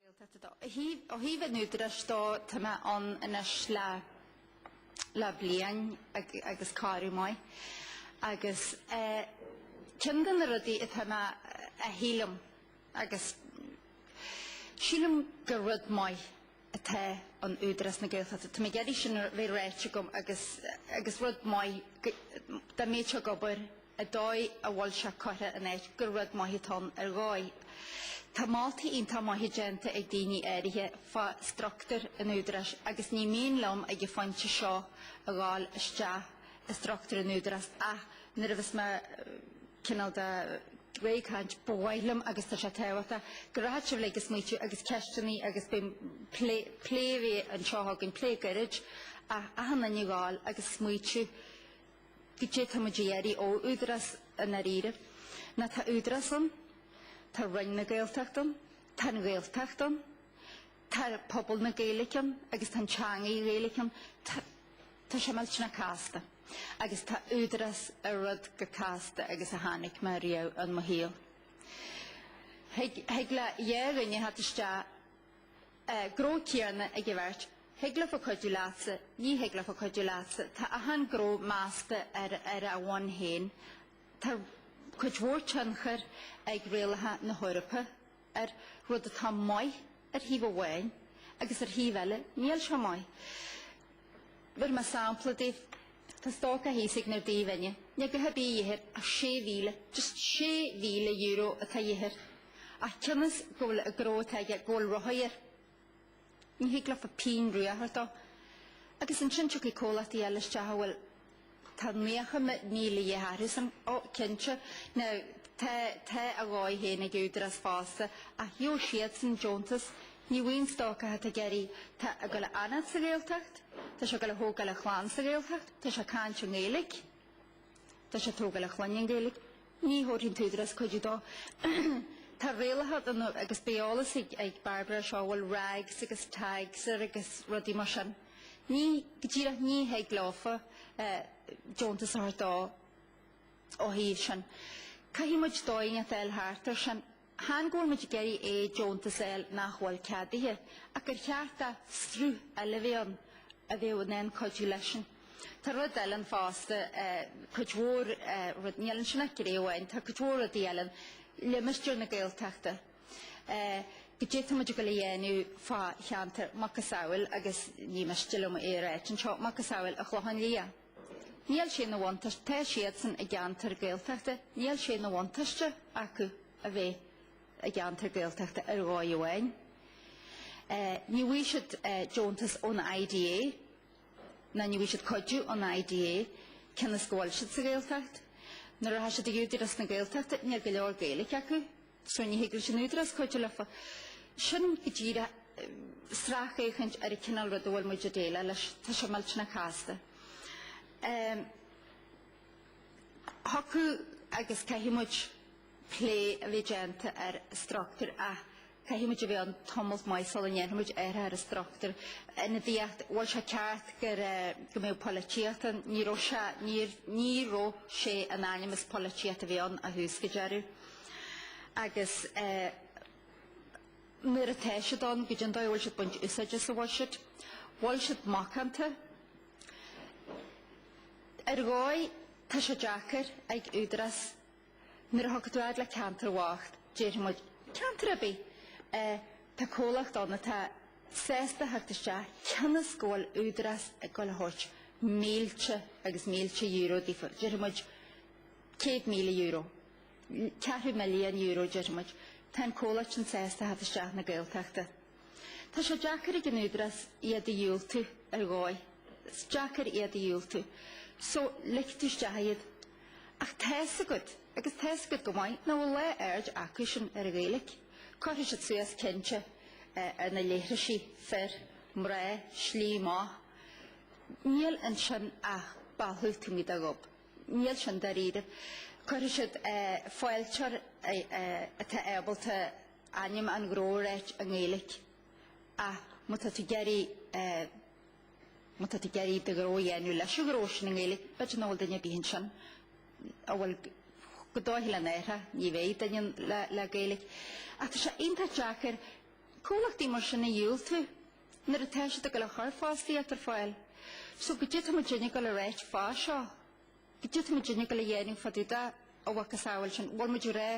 Gaeltachta do. Ó thaobh an údaráis dó, tá mé ann anois le le bliain agus corradh maith agus ceann de na rudaí atá mé a shílim agus sílim gur rud maith atá in Údarás na Gaeltachta. Tá mé ag iarraidh sin a bheith ráite agam agus agus rud maith dá mbeadh sé ag obair an dóigh a bhfuil sé curtha in áit gur rud maith atá ann ar dhóigh. Tá moltaí iontach maithe déanta ag daoine áirithe fá struchtúr an Údaráis agus ní mian liom ag an phointe seo a ghabháil isteach i struchtúr an Údaráis ach nuair a bheas mé cineál de réidh ag caint, ba mhaith liom, agus tá sé tábhachtach, go rachadh sibh uilig a smaoitiú agus ceisteannaí agus beidh plé, plé a bheith anseo againn, plé gairid ach achan duine a ghabháil agus smaoitiú. Goidé tá muid ag iarraidh ó Údarás i ndáiríre. Now, tá Údarás ann, tá Roinn na Gaeltachta ann, tá an Ghaeltacht ann, tá pobal na Gaeilge ann agus tá an teangaidh Ghaeilge ann. Tá tá sé millteanach casta. Agus tá Údarás ar rud chomh casta agus a chonaic mé riamh in mo shaol. Thig thig le dhá dhuine theacht isteach Gnó céarna ag an bheirt. Thig leofa cuidiú leatsa. Ní thig leofa cuidiú leatsa. Tá achan gnó measta ar ar a bhonn féin. Tá cuid mhór tionchair ag rialacha na hEorpa air, rud atá maith ar thaobh amháin agus ar thaobh eile níl sé maith. Bhéarfaidh mé sampla daoibh. Tá stócach thíos ag méar Dí bhinne. Níl ag gabháil a bheith a dhíth air ach sé mhíle, just sé mhíle euro atá a dhíth air. Ach cionn is go bhfuil an gnó atá aige go bhfuil rothaí air, ní thig leofa pínn rua a thabhairt dó. Agus ansin tiocfaidh comhlachtaí eile isteach a bhfuil. Tá naocha míle de dhíth orthusan. Ó, cinnte. Now, tá, tá a dhóigh féin ag Údarás fosta, ach gheobhaidh siadsan deontas. Ní bhfaighidh an stócach atá ag iarraidh, atá ag dul a fhanacht sa Ghaeltacht. Tá sé ag dul a thógáil a chlann sa Ghaeltacht. Tá sé ag caint i nGaeilge. Tá sé ag tógáil a chlainne i nGaeilge. Ní thabharfaidh an tÚdarás cuidiú dó. Tá rialacha ann agus beidh eolas ag Barbara ar seo a bhfuil regs agus tags air agus rudaí mar sin. Ní, go díreach ní thig leofa deontas a thabhairt dó ó thaobh sin. Caithfidh muid dóigh inteacht a fháil thart air sin. Chan go bhfuil muid ag iarraidh é deontas a fháil nach bhfuil ceadaithe, ach gur cheart do shruth eile bheith ann a bheadh in ann cuidiú leisean. Tá rud eile ann fosta, cuid mhór rud, níl ansin ach gné amháin, tá cuid mhór rudaí eile ann, limistéir na Gaeltachta, goidé tá muid a dhul a dhéanamh fá cheantar macasamhail, agus ní miste liom é a ráit anseo, macasamhail an Chlocháin Liath. Níl sé ina bhuntáiste, tá siadsan i gceantar Gaeltachta, níl sé ina bhuntáiste acu a bheith i gceantar Gaeltachta ar dhóigh amháin. Ní bhfaighidh siad deontas ón IDA ná ní bhfaighidh siad cuidiú ón IDA cionn is go bhfuil siad sa Ghaeltacht. Nuair a rachaidh siad chuig Údarás na Gaeltachta níl go leor Gaeilge acu. So ní thig leis an Údarás cuidiú leofa. Sin go díreach sracfhéachaint ar an cineál ruda a bhfuil muid ag déileáil leis. Tá sé millteanach casta. Thiocfadh agus caithfidh muid plé a bheith déanta ar struchtúr ach caithfidh muid a bheith ann tamalt maith sula ndéanfaidh muid ar an struchtúr. Ionadaíocht, bhfuil sé ceart go mbeadh polaitíocht ann. Ní raibh sé, ní raibh sé in ainm is polaitíocht a bheith ann ó thús go deireadh. agus nuair atá siad ann, goidé an dóigh a bhfuil siad ag baint úsáide as? Bhfuil siad, bhfuil siad macánta? Ar dhóigh, tá sé deacair ag údarás, nuair a thig tú fhad le ceantar bocht, déarfaidh muid, 'Ceantar ar bith? Tá comhlacht ann atá sásta theacht isteach cionn is go bhfuil údarás ag dul a thabhairt mílte agus mílte euro daofa. Déarfaidh muid, 'Céad míle euro. Ceathrú milliún euro déarfaidh muid. Tá an comhlacht sin sásta a theacht isteach na Gaeltachta. Tá sé deacair ag an Údarás iad a dhiúltú ar dhóigh. Is deacair iad a dhiúltú. So, ligfidh tú isteach iad. Ach tá's agat, agus tá's agat go maith, nach bhfuil lá aird acusan ar an Ghaeilge. Cuirfidh siad suas cinnte ar na leithrisí, fir, mná, slí amach. Níl ansin ach bealadh taobh amuigh de ghob. Níl sin dáiríribh. Cuirfidh siad fáilteoir atá ábalta ainm an ghnó a ráit i nGaeilic, ach má tá tú ag iarraidh má tá tú ag iarraidh do ghnó a dhéanamh leis an ghnó sin i nGaeilic, b'fhéidir nach bhfuil duine ar bith ansin a bhfuil go dóiche lena aithne, ní bheidh duine le Gaeilic. Ach tá sé iontach deacair comhlachtaí mar sin a dhiúltú. Nuair atá siad ag dul a chur fostaíocht ar fáil. So goidé tá muidinne ag dul a ráit fá seo? Goidé tá muidinne ag dul a dhéanamh fá dtaobh dá mhacasamhail sin? Bhfuil muid ag rá,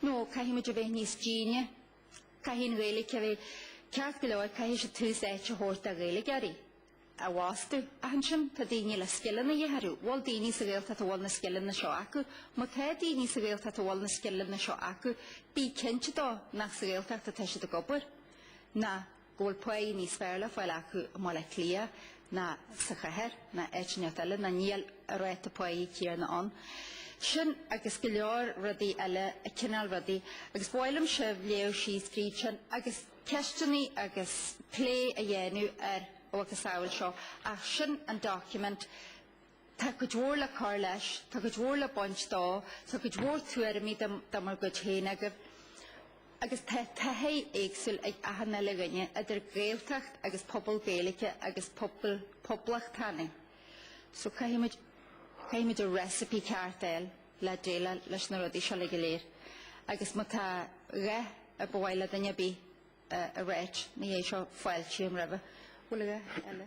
no, caithfidh muid a bheith níos déine. Caithfidh an Ghaeilge a bheith ceart go leor, caithfidh siad tús áite a thabhairt do Ghaeilgeoirí. a fhostú. Ach ansin tá daoine le scileanna a dhíth orthu. Bhfuil daoine sa Ghaeltacht a bhfuil na scileanna seo acu? Má tá daoine sa Ghaeltacht a bhfuil na scileanna seo acu, bí cinnte dó nach sa Ghaeltacht atá siad ag obair, ná go bhfuil páighe níos fearr le fáil acu i mBaile Átha Cliath ná sa chathair ná áit inteacht eile, ná níl an ráta páighe céanna ann. Sin agus go leor rudaí eile, an cineál rudaí. Agus ba mhaith liom sibh léamh síos fríd sin agus. ceisteanna agus plé a dhéanamh ar a mhacasamhail seo, ach sin an document Tá cuid mhór le cur leis, tá cuid mhór le baint de, tá cuid mhór tuairimí de bhur gcuid féin agaibh, agus tá taithí éagsúil ag achan uile dhuine, idir Gaeltacht agus pobal Gaeilge agus pobal poblachtánaigh. So caithfimid, caithfimid an recipe ceart a fháil. le déileáil leis na rudaí seo le go léir agus má tá a dhath ar ba mhaith le duine ar bith a ráit, ina dhiaidh seo fáiltím roimhe. Bhfuil a dhath eile?